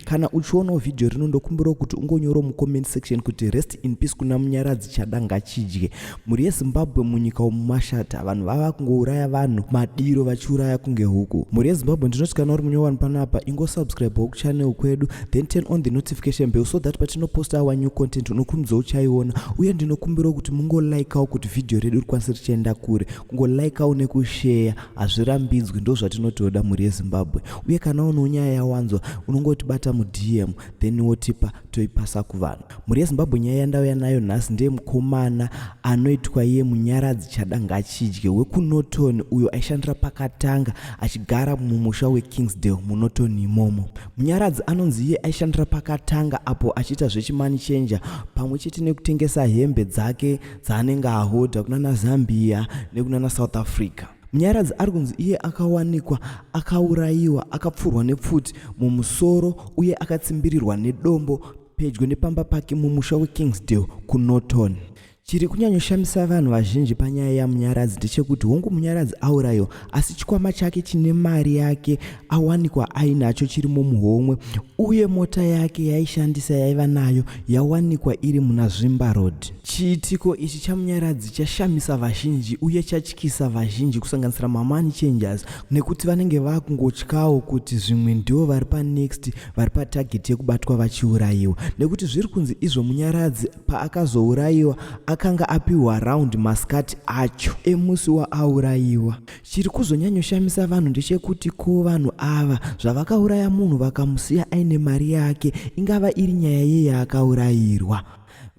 kana uchionawo vhidhiyo rino ndokumbirawo kuti ungonyorawo mucomment section kuti rest in peace kuna munyaradzi chada ngachidye mhuri yezimbabwe munyika umu mashata vanhu vava kungouraya vanhu madiro vachiuraya kunge huku mhuri yezimbabwe ndinoti kana uri munyowani panapa ingosubscribewo kuchannel kwedu then turn on the notification bell so that patinoposta our new content unokurumidzawo uchaiona uye ndinokumbirawo kuti mungolikawo kuti vhidhiyo redu rikwanise richienda kure kungolaikawo nekusheya hazvirambidzwi ndozvatinotoda mhuri yezimbabwe uye kana unewo nyaya yawanzwa unongotibata mudm then wotipa toipasa kuvanhu mhuri yezimbabwe nyaya yandauya nayo nhasi ndeye mukomana anoitwa iye munyaradzi chada ngachidye wekunoton uyo aishandira pakatanga achigara mumusha wekingsdale munoton imomo munyaradzi anonzi iye aishandira pakatanga apo achiita zvechimani chenja pamwe chete nekutengesa hembe dzake dzaanenge ahodha kunana Zambia nekunana South Africa. Munyaradzi ari kunzi iye akawanikwa akaurayiwa akapfurwa nepfuti mumusoro uye akatsimbirirwa nedombo pedyo nepamba pake mumusha weKingsdale kuNorton. Chiri kunyanyoshamisa vanhu vazhinji panyaya yaMunyaradzi ndechekuti hongu Munyaradzi aurayiwa asi chikwama chake chine mari yake awanikwa ainacho chiri mumuhomwe uye mota yake yaishandisa yaiva nayo yawanikwa iri muna zvimba road chiitiko ichi chamunyaradzi chashamisa vazhinji uye chatyisa vazhinji kusanganisira mamani changers nekuti vanenge vakungotyawo kuti zvimwe ndivo vari panext vari patarget yekubatwa vachiurayiwa nekuti zviri kunzi izvo munyaradzi paakazourayiwa akanga apiwa round maskati acho emusi waaurayiwa chiri kuzonyanyoshamisa vanhu ndechekuti ko vanhu ava zvavakauraya munhu vakamusiya aine mari yake ingava iri nyaya yei yaakaurayirwa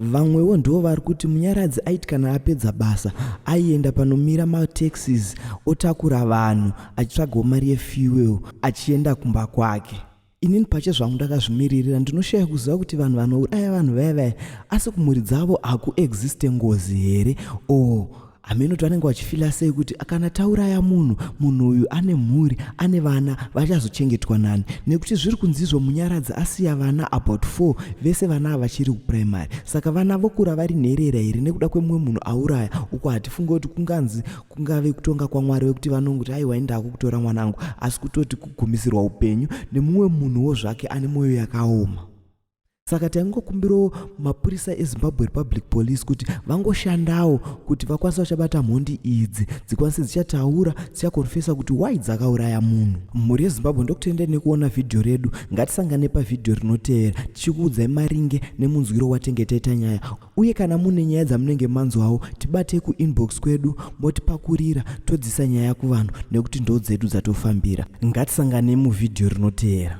vamwewo ndivo vari kuti munyaradzi aiti kana apedza basa aienda panomira mataxis otakura vanhu achitsvagawo mari yefuel achienda kumba kwake inini pache zvangu ndakazvimiririra ndinoshaya kuziva kuti vanhu vanouraya vanhu vaya vaya asi kumhuri dzavo hakuexiste ngozi here o oh, hameno kuti vanenge vachifila sei kuti kana tauraya munhu munhu uyu ane mhuri ane vana vachazochengetwa nani nekuti zviri kunzizvo munyaradzi asiya vana about four vese vana ava vachiri kuprimary saka vana vokura vari nherera here nekuda kwemumwe munhu auraya uko hatifunge kuti kunganzi kungave kutonga kwamwari wekuti vanongoti aiwa indako kutora mwanangu asi kutoti kugumisirwa upenyu nemumwe munhuwo zvake ane mwoyo yakaoma saka taingokumbirawo mapurisa ezimbabwe republic police kuti vangoshandawo kuti vakwanise vachabata mhondi idzi dzikwanise dzichataura dzichakonfesa kuti why dzakauraya munhu mhuri yezimbabwe ndokutenda nekuona vhidhiyo redu ngatisangane pavhidhiyo rinoteera tichikuudzai maringe nemunzwiro watenge taita nyaya uye kana mune nyaya dzamunenge manzwawo tibatei kuinbox kwedu motipakurira todzisa nyaya kuvanhu nekuti ndo dzedu dzatofambira ngatisanganei muvhidhiyo rinoteera